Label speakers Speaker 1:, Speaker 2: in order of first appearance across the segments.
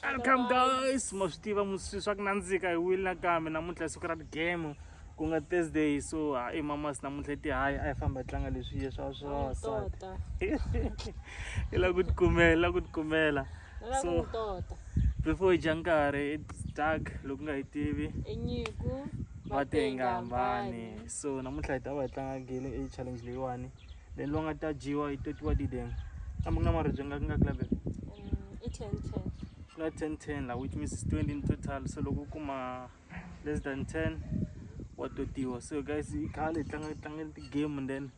Speaker 1: welcome guys ma swi tiva muswi swa ku nandzika hi wile nakambe namuntlha i siku ra ti-game ku nga thursday so ha i mamas namuntlha i tihayi a yi famba yi tlanga leswi ye swa swavasati i la ku tikumela i la ku tikumela so before yi dya nkarhi its dark loko nga yi tivi
Speaker 2: va tengambani
Speaker 1: so namuntlha hi ta va hi tlanga gele e challenge leyiwani then va nga ta dyiwa yi totiwa ti then kambe ku na maribye nga ku nga kulabe um, i ten ten
Speaker 2: ku na ten ten
Speaker 1: la which means twenty in total so loko u kuma less than ten wa totiwa so guys i khale tlanga tlangela ti-game and then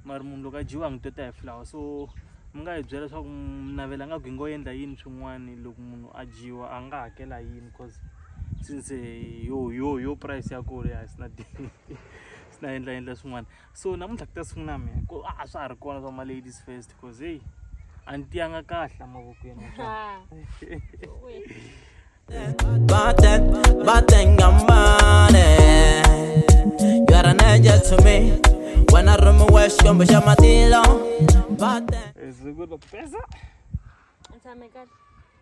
Speaker 1: mari munhu loko a dyiwa ngi tota hi flower so mi nga hi byela leswaku mnavela nga gwingo yi endla yini swin'wana loko munhu a dyiwa a nga hakela yini cause since yo yo yo price ya kule a sina sina endla endla swin'wana so namuntlha ku ta sungula mina ku a swa ha ri kona swa ma-ladies first cause heyi a ni tiyanga kahle mavokweni
Speaker 3: Batten, batten ngamane You are an angel to me When I run my west, come back my deal on Batten
Speaker 1: Is it good, Pesa? It's a
Speaker 2: mega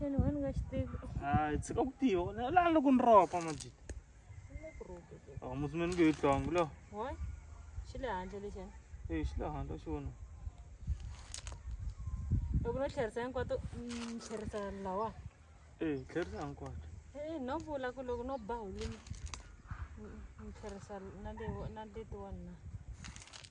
Speaker 2: Xana wena u nga xi tivi? Hayi, tshika ku
Speaker 1: tiva. La loko ni ropa majita.
Speaker 2: Aw musumeni ku yi
Speaker 1: tlongo lo. Wa?
Speaker 2: Xi le handle lexi. Eh, xi le handle xi
Speaker 1: vona.
Speaker 2: Loko no tlherisa hinkwato ni tlherisa lawa. Eh, tlherisa
Speaker 1: hinkwato. Eh, no vula
Speaker 2: ku loko no ba hulini ni tlherisa na le na letiwani na.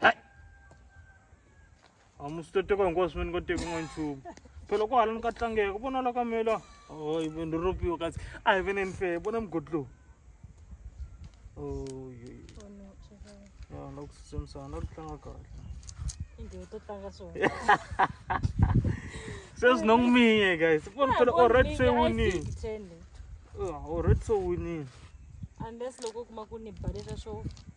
Speaker 1: hayi a musi to teka hinkwaswo me ni nga teki n'wa nchumu phela ku hala ni ka tlangeka vona la ka mela oy ni ropiwa kasi a hi veneni fe vona mugodi lowu na ku tsutsumisana na ku tlanga kahle sweswi no n'wi miye guys vona phela already se winile already se winile unless
Speaker 2: loko u kuma ku ni balesa swo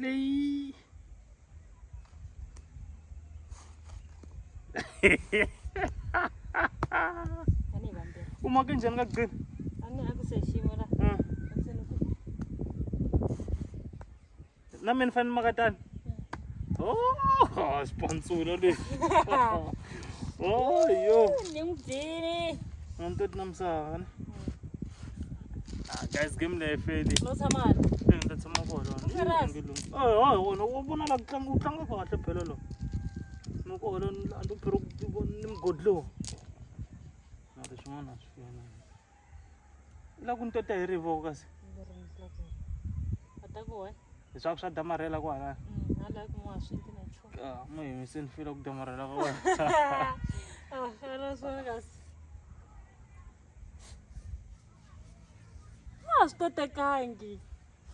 Speaker 1: Leyi. Ani
Speaker 2: bambe. u make njhani ka gcina
Speaker 1: Ani aku se
Speaker 2: ximo la. Ah, Aku
Speaker 1: se nuku. na mina fane maka tani oh swipantsula leswi oh yo Ni mu bini.
Speaker 2: a ni toti
Speaker 1: na misava ne
Speaker 2: Ah,
Speaker 1: guys game leyi feli no tshama hala
Speaker 2: Eh, ni ta tshama kona
Speaker 1: Serious? Nge lungi. Eh,
Speaker 2: hayi wona u
Speaker 1: vona la ku tlanga u tlanga kahle phela lo ni ku hola ni andzi phela ku ku- ni mugodi lowu mara swin'wana a swi fana i la ku ni tota hi rivo kasi
Speaker 2: atakuwe hi swa ku swa damarhela
Speaker 1: kwalaya hala ku n'wa
Speaker 2: swinti na nchumu Ah, mo yimise ni fela ku
Speaker 1: damarhela ka wena a fana
Speaker 2: swona kasi a swi kotekangi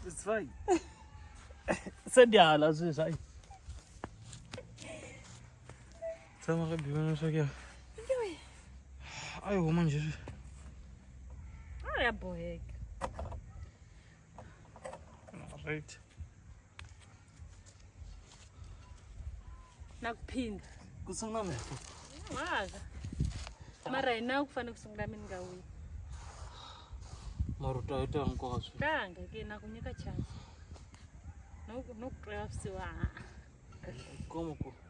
Speaker 2: It's fine.
Speaker 1: Se ndi hala sweswi hayi. Tshama ka biwa na swakya. Ayi huma nje.
Speaker 2: a ya boheka
Speaker 1: Right.
Speaker 2: nakuphinda ku sungula
Speaker 1: mina waza
Speaker 2: mara hi nawu ku fanele ku sungula mina nga wini mara
Speaker 1: u twa yito ya nkoka swi tanga ke na ku nyika
Speaker 2: chance no ku twela vusiwa ha
Speaker 1: komo ku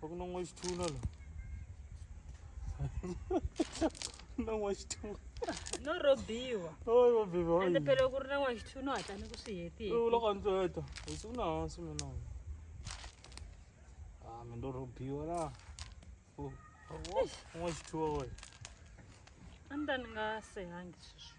Speaker 2: Huwag
Speaker 1: nang waste tuna lang. nang waste tuna. No
Speaker 2: robiwa. Oh, robiwa.
Speaker 1: Ende pele ku ri na waste
Speaker 2: tuna hatla ni ku swi hetile. U loko ndzi heta.
Speaker 1: Hi siku na hansi mina. Ah, mi ndo robiwa la. Oh, oh, waste tuna wena.
Speaker 2: A ni ta ni nga sehangi sweswi.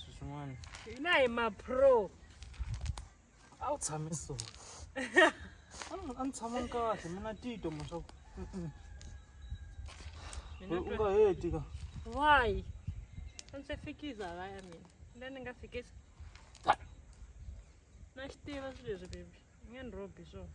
Speaker 1: swin'wana hina hi mapro a wu tshame so a ni tshama ni kahle mina tito ma swa ku u nga heti ka why a
Speaker 2: ndzi se fikiza va ya mina la ni nga fikisa na xi tiva swi leswi bebi ni nge ni robi swona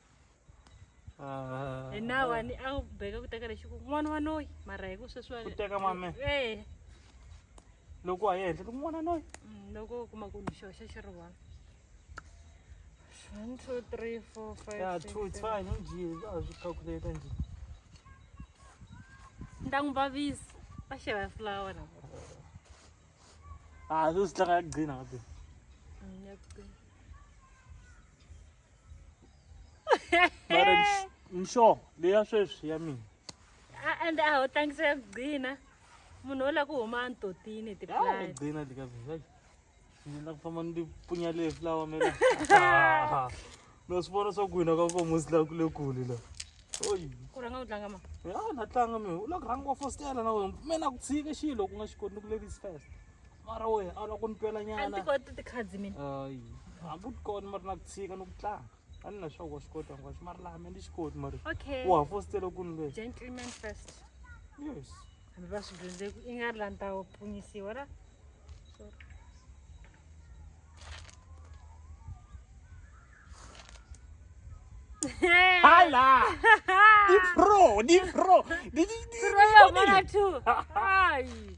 Speaker 2: Ah. ene awani akubheka ukuthi akalexi ku n'wana wa noyi mara hi ku sweswi wa- Ku teka mame. Eh,
Speaker 1: loko a henhla ku n'wana noyi mm, loko u kuma ku
Speaker 2: ni xo xa xi ri one one two three four five ya six, two it's seven.
Speaker 1: fine njhe a swi calculate njhe ni
Speaker 2: ta n'wi vavisa va xava fulawa na
Speaker 1: a swi swi tlanga ya gcina ka tena Mm, ya ku qina. mara nx- nxo leya sweswi ya mina A- and a
Speaker 2: ho tlangisa ya kugcina munhu wo la ku huma antotini hi Ya, tiplani ngigcina le ka mina
Speaker 1: hayi ngina kufamba ni punya le flower mina Ah, no swi vona swa ku hina ka komo swi la ku le kule la oyi ku rhanga u tlanga ma
Speaker 2: ya na tlanga mi
Speaker 1: u la ku rhanga wa fostela na wena mina ku tshike xilo ku nga xi koti ni ku ladies first mara we a loko ni twela nyana tikhadzi mina
Speaker 2: hayi hambi u
Speaker 1: tikona mari na ku tshika ni ku tlanga a ni na swa wa swi kota hinkwaswo mari laha me ni xi koti mari u ha fositele ku ni le gentleman first yes hambi
Speaker 2: va swi dyondze ku i nga ri la ni ta pfunyisiwa ra
Speaker 1: Hala! Di pro, di pro. Di di
Speaker 2: di. Pro yo mara tu. Ai.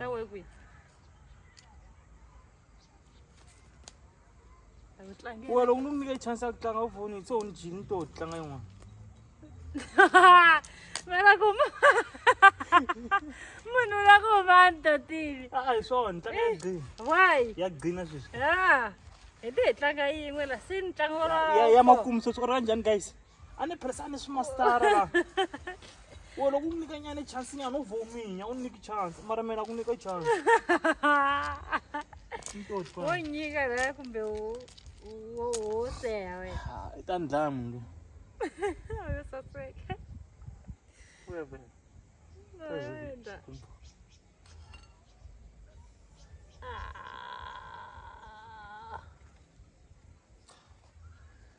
Speaker 2: Ra we kwi. Wa loko ni nyike chance ya
Speaker 1: ku tlanga u foni se u ni jini to tlanga yin'wana.
Speaker 2: Mara ku munhu la ku va ntotini. A hi swona tlanga ya green.
Speaker 1: Why? Ya green
Speaker 2: sweswi.
Speaker 1: Ya.
Speaker 2: Hi te hi tlanga yin'we la se ni tlanga wa. Ya ya makumu so swi ra
Speaker 1: njhani guys? a ni phirisa a ni swi mastara la wo loko ku nyika nyane chance nyana u vominya u nyiki chance mara mina ku nyika chance
Speaker 2: wo nyika la kumbe wo wo seha we i ta ndlaya munhu
Speaker 1: lo
Speaker 2: saseka
Speaker 1: webe
Speaker 2: Ah.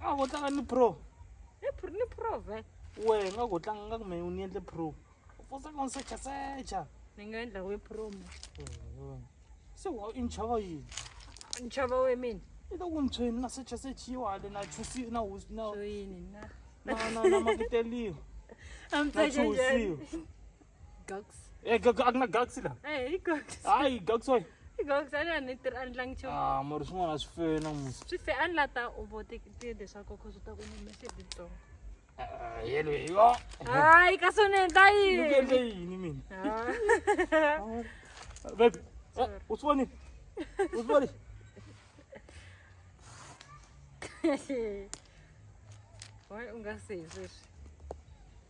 Speaker 1: a vo tlanga ni pro ni
Speaker 2: prove we nga ku
Speaker 1: tlanga nga kume ni endle pro u fosa ku secha secha ni nga endla we
Speaker 2: pro mo
Speaker 1: se wa i nchava yini nchava we
Speaker 2: mina i ta ku ntshweni na
Speaker 1: secha sechiwa le na chusi na hosi na na na
Speaker 2: na
Speaker 1: makiteliwa na
Speaker 2: chusiwa Gogs. Eh, gag a ku na
Speaker 1: gags la. Eh, hi gogs. Hayi,
Speaker 2: gags wayi.
Speaker 1: Hi gogs a ni ni
Speaker 2: tirhi a ni tlangi nchumu. Ah, mara swin'wana swi fe
Speaker 1: na musi. Swi fe a ni la ta u
Speaker 2: vote tiyende swa koko swi ta ku ni message ntsongo. Ah, yelo
Speaker 1: yo. Hayi, ka sone
Speaker 2: ta Ni yini? kendle yini
Speaker 1: mina? Ah. Baby, eh, u swi voni? U swi voni?
Speaker 2: Why u nga se hi sweswi?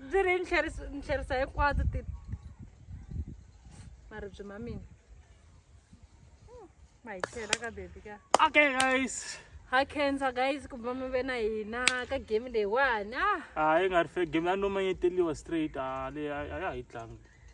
Speaker 2: bziri ntlherisa hinkwato ti maribyi ma mina hmm, ma hi tlhela ka bebi ka okay guys
Speaker 1: ha cancer
Speaker 2: guys ku va mi ve na hina ka game leyiwani a ah. ah, yi nga ri fe
Speaker 1: game ya no manyeteliwa straight a ah, leyi a ya hi tlangi